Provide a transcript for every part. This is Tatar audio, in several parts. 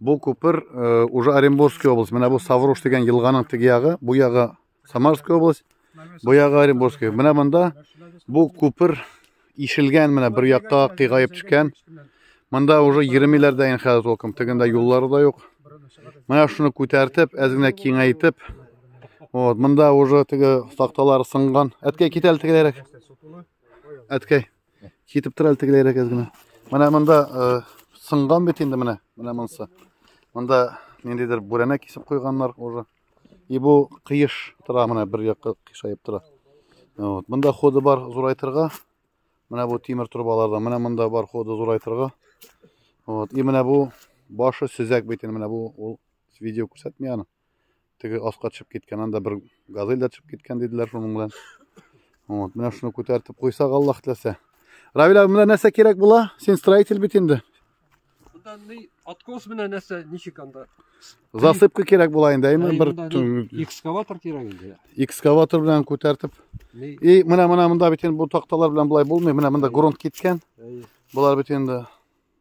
Бу күпер э, уже Оренбургская область. Менә бу Саврош дигән елганың теге ягы, бу ягы Самарская область, бу ягы Оренбургская. Менә монда бу күпер ишелгән менә бер якка кыйгаеп төшкән. Монда уже 20 милләрдә ин хәзер толком тегендә юллары да юк. Менә шуны күтәртеп, әз генә киңәйтеп. Вот, монда уже теге такталар сынган. Әткәй китәл тегеләрәк. Әткәй. Китеп тора әле тегеләйрәк әз генә. Менә монда э, сынган бит инде менә, менә монысы. Монда ниндидер бүрәнә кисеп куйганнар уже. И бу кыеш тора менә бер якка кыйшаеп тора. Вот. Монда ходы бар зурайтырга. Менә бу тимер трубалардан, менә монда бар ходы зурайтырга. Вот. И менә бу башы сөзәк бит инде менә бу ул видео күрсәтми аны. теге аска төшеп киткән анда бер газель дә төшеп киткән диделәр шуның белән вот менә шуны күтәртеп куйсак аллаһ теләсә равил абый менә нәрсә кирәк була син строитель бит инде анда ни откос менә нәрсә ничек анда засыпка кирәк була инде әйме бер экскаватор кирәк инде экскаватор белән күтәртеп и менә менә монда бит инде бу такталар белән болай булмый менә монда грунт киткән болар бит инде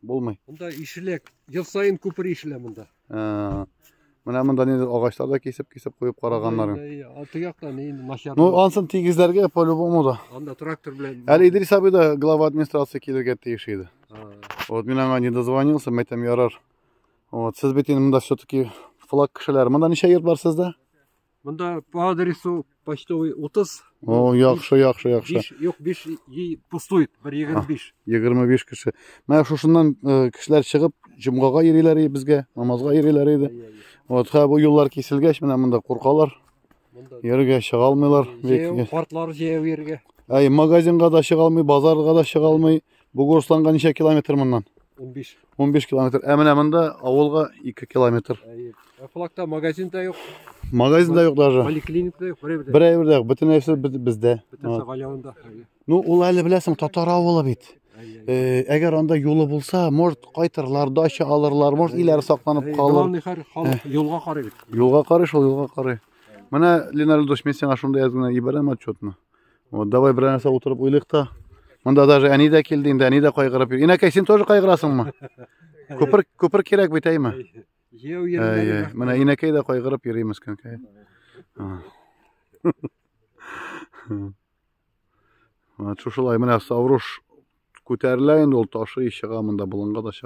Булмый. Монда ишелә, ел саен күпер ишелә монда. Ә, Менә монда нидер агачлар да кисеп-кисеп куеп караганнарын. Алты якта ни начар. Ну, ансын тигезләргә по-любому да. Анда трактор белән. Әле Идрис абый да глава администрации килергә тиеш иде. Вот мин аңа не дозвонился, мәйтәм ярар. Вот, сез бит инде монда все-таки флаг кешеләр. Монда ничә йорт бар сездә? Монда по адресу почтовый 30. О, яхшы, яхшы, яхшы. Биш, юк, биш и пустует, бер егерме биш. Егерме биш кеше. Менә шушыннан э, кешеләр чыгып, җомгага йөриләр иде безгә, намазга йөриләр иде. Вот ха бу юллар киселгәч, менә монда куркалар. Йөрергә чыга алмыйлар. Картлар җәяү йөрергә. Әй, магазинга да чыга алмый, базарга да чыга алмый. Бу Гусланга ничә километр моннан? 15. 15 километр. Ә менә монда авылга 2 километр. Әйе. Ә флагта магазин да юк. Магазин да юк даже. Поликлиник да юк. Бер әйбер дә юк. Бөтен нәрсә бездә. Бөтен Савалянда. Ну, ул әле беләсең, татар авылы бит. Э, әгәр анда юлы булса, может кайтырлар, дача алырлар, может иләр сакланып калыр. Главный хәр халык юлга карый бит. Юлга карый, шул юлга карый. Менә Ленар Лудович, мен сиңа шунда язган ибәрәм отчетны. Вот давай берәр нәрсә утырып уйлыйк та. Монда даже әни дә килде инде, әни дә кайгырып йөр. Инәкәй, син тоже кайгырасыңмы? Күпер, күпер кирәк бит, әйме? Җәү йөрмәде. Менә инәкәй дә кайгырып йөри мескенкәй. Вот шушылай менә Савруш күтәрелә инде ул ташы чыга монда, болынга да чыга.